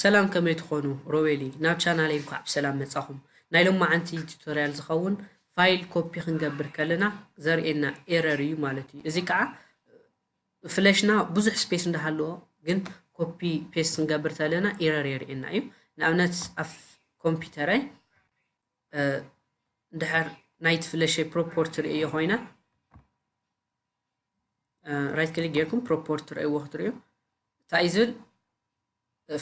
ሰላም ከመይ ትኾኑ ሮቤሊ ናብ ቻናለይ እንኳዕ ብሰላም መጻኹም ናይ ሎማዓንቲ ቱቶርያል ዝኸውን ፋይል ኮፒ ክንገብር ከለና ዘርእየና ኤረር እዩ ማለት እዩ እዚ ከዓ ፍለሽና ብዙሕ ስፔስ እንዳሃለዎ ግን ኮፒ ፔስት ክንገብር ተለና ኤረር የርእየና እዩ ንኣብነት ኣብ ኮምፒውተረይ ድሕር ናይቲ ፍለሸይ ፕሮፖርቲ ርእዮ ኮይና ራይት ክሊክ ጌርኩም ፕሮፖርት ትርእይዎ ክትርእዩ እንታይ እዩ ዝብል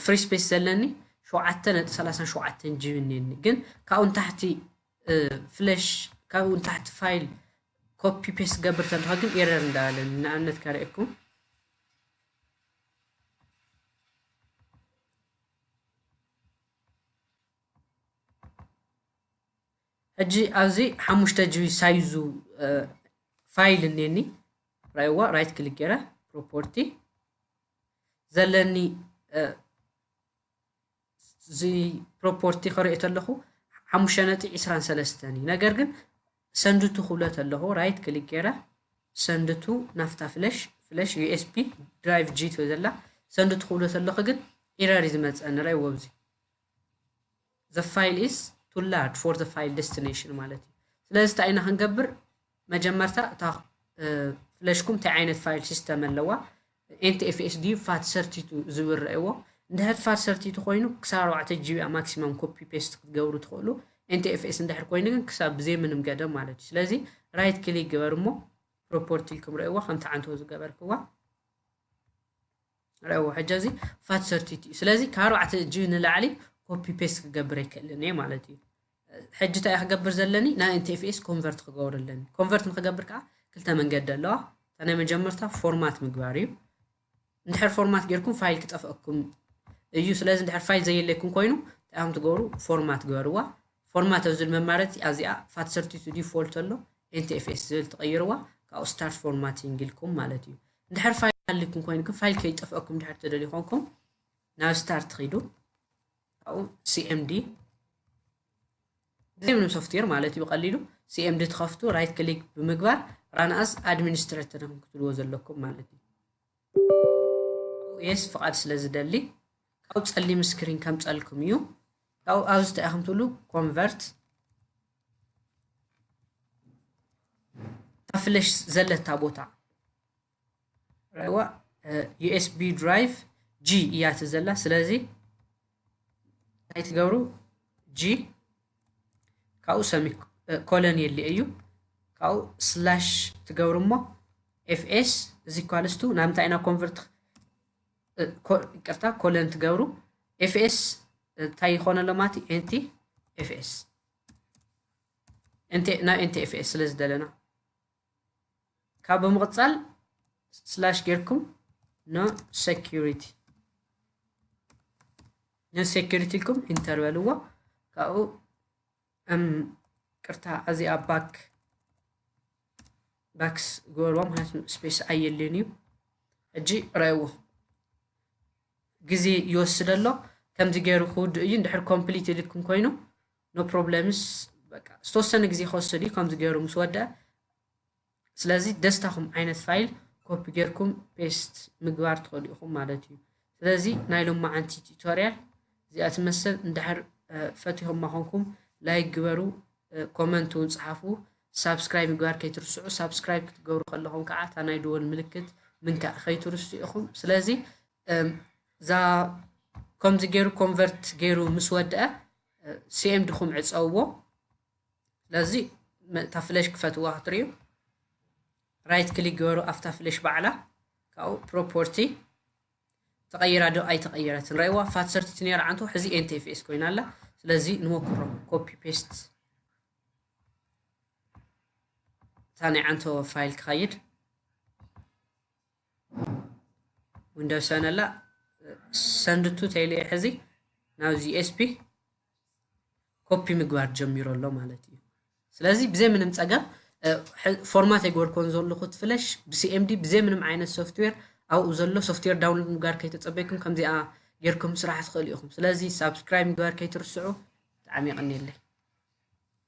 ፍሪ ስፔስ ዘለኒ ሸውዓተ ነጥቢ ሰላሳን ሸውዓተን ጂቢ እኒኒ ግን ካብኡ ንታሕቲ ፍለሽ ካብኡ ንታሕቲ ፋይል ኮፒ ፔስት ዝገብር ተለካ ግን ኤረር እንዳበለኒ ንኣብነት ከርእየኩም ሕጂ ኣብዚ ሓሙሽተ ጂቢ ሳይዙ ፋይል እኔኒ ራይዋ ራይት ክሊክ ገይረ ፕሮፖርቲ ዘለኒ እዚ ፕሮፖርቲ ከሪኦ ተለኹ ሓሙሽተ ነጥቢ ዕስራን ሰለስተን እዩ ነገር ግን ሰንድቱ ክብሎ ተለኹ ራይት ክሊክ ገይረ ሰንድቱ ናፍታ ፍለሽ ፍለሽ ዩኤስፒ ድራይቭ ጂ ትበ ዘላ ሰንድቱ ክብሎ ተለኹ ግን ኢረር እዩ ዝመፀኒ ረይዎ ኣብዚ the file is too large for the file destination ማለት እዩ ስለዚ እንታይ ኢና ክንገብር መጀመርታ እታ ፍለሽኩም እንታይ ዓይነት ፋይል ሲስተም ኣለዋ ኤንቲኤፍኤስ ድዩ ፋት ሰርቲቱ ዝብል ረእዎ እንድሕር ፋት ሰርቲቱ ኮይኑ ክሳብ ኣርባዕተ ጂቢ ማክሲማም ኮፒ ፔስት ክትገብሩ ትኽእሉ ኤንቲኤፍኤስ እንድሕር ኮይኑ ግን ክሳብ ብዘይ ምንም ገደብ ማለት እዩ ስለዚ ራይት ክሊክ ግበር እሞ ፕሮፖርቲ ኢልኩም ረእዎ ከምቲ ዓንተው ዝገበርክዋ ረእዎ ሕጂ እዚ ፋት ሰርቲት እዩ ስለዚ ካብ ኣርባዕተ እጅ ንላዕሊ ኮፒ ፔስት ክገብር ኣይክእልን እየ ማለት እዩ ሕጂ እንታይ ክገብር ዘለኒ ናይ ኤንቲኤፍኤስ ኮንቨርት ክገብር ኣለኒ ኮንቨርት ንክገብር ከዓ ክልተ መንገዲ ኣለዋ እታ ናይ መጀመርታ ፎርማት ምግባር እዩ እንድሕር ፎርማት ጌርኩም ፋይል ክጠፍአኩም እዩ ስለዚ እንድሕር ፋይል ዘየለይኩም ኮይኑ እንታይ ትገብሩ ፎርማት ግበርዋ ፎርማት ኣብ ዝብል መማረፂ ኣዚኣ ፋት ሰርቲቱ ዲፎልት ኣሎ ኤንቲኤፍኤስ ዝብል ትቐይርዋ ካብኡ ስታርት ፎርማቲንግ ኢልኩም ማለት እዩ እንድሕር ፋይል ሃልዩኩም ኮይኑ ግን ፋይል ከይጠፍአኩም እንድሕር ትደልዩ ኮንኩም ናብ ስታርት ኺዱ ካብኡ ሲኤምዲ ብዘይ ምንም ሶፍትዌር ማለት እዩ ብቀሊሉ ሲኤምዲ ትኸፍቱ ራይት ክሊክ ብምግባር ራንኣስ ኣድሚኒስትሬተር ኹም ክትብልዎ ዘለኩም ማለት እዩ የስ ፍቓድ ስለ ዝደሊ ካብኡ ፀሊም ስክሪን ከምፀልኩም እዩ ካብኡ ኣብዚ እንታይ ኢኹም ትብሉ ኮንቨርት ፍለሽ ዘለታ ቦታ ረዋ ዩኤስቢ ድራይቭ ጂ እያ እቲ ዘላ ስለዚ እንታይ ትገብሩ ጂ ካብኡ ሰሚ ኮለን የለ እዩ ካብኡ ስላሽ ትገብሩ እሞ ኤፍኤስ እዚ ኳልስቱ ናብ እንታይ ኢና ኮንቨርት ይቅርታ ኮለን ትገብሩ ኤፍኤስ እንታይ ይኾነ ኣሎ ማለት እዩ ኤንቲ ኤፍኤስ ናብ ኤንቲ ኤፍኤስ ስለ ዝደለና ካብ ብምቕፃል ስላሽ ጌርኩም ኖ ሴኪሪቲ ኖ ሴኪሪቲ ኢልኩም ኢንተር በልዎ ካብኡ ቅርታ እዚኣ ባክ ባክስ ገበርዎ ምክንያቱ ስፔስ ኣየልን እዩ ሕጂ ረእዎ ግዜ ይወስደ ኣሎ ከምዚ ገይሩ ክውድእ እዩ እንድሕር ኮምፕሊት ኢልኩም ኮይኑ ኖ ፕሮብለምስ ዝተወሰነ ግዜ ክወስድ እዩ ከምዚ ገይሩ ምስ ወድአ ስለዚ ደስታኹም ዓይነት ፋይል ኮፒ ጌርኩም ፔስት ምግባር ትኸእሉ ኢኹም ማለት እዩ ስለዚ ናይ ሎማዓንቲ ቲቶርያል እዚኣ ትመስል እንድሕር ፈቲኹማ ኮንኩም ላይክ ግበሩ ኮመንት እውን ፀሓፉ ሳብስክራይብ ምግባር ከይትርስዑ ሳብስክራይብ ክትገብሩ ከለኹም ከዓ እታ ናይ ደወል ምልክት ምንካእ ከይትርስዑ ኢኹም ስለዚ እዛ ከምዚ ገይሩ ኮንቨርት ገይሩ ምስ ወድአ ሲኤምድኹም ዕፀውዎ ስለዚ እታ ፍለሽ ክፈትዋ ክትሪኡ ራይት ክሊክ ገበሩ ኣብታ ፍለሽ ባዕላ ካብኡ ፕሮፖርቲ ተቐይራ ዶ ኣይተቐየረትን ረእዋ ፋት ሰርቲት ነራ ዓንቶ ሕዚ ኤንቴፌስ ኮይና ኣላ ስለዚ ንሞክሮ ኮፒ ፔስት እታ ናይ ዓንቶ ፋይል ክኸይድ ዊንዶስ ሰነላ ሰንድቱ ተይለ ሕዚ ናብዚ ኤስፒ ኮፒ ምግባር ጀሚሮ ኣሎ ማለት እዩ ስለዚ ብዘይ ምንም ፀገም ፎርማት የገበርኮን ዘለኹ ፍለሽ ብሲኤምዲ ብዘይ ምንም ዓይነት ሶፍትዌር ኣብኡ ዘሎ ሶፍትዌር ዳውንሎድ ምግባር ከይተፀበይኩም ከምዚኣ ጌርኩም ስራሕ ትኽእሉ ኢኹም ስለዚ ሳብስክራይብ ምግባር ከይትርስዑ ብጣዕሚ ይቕኒየለይ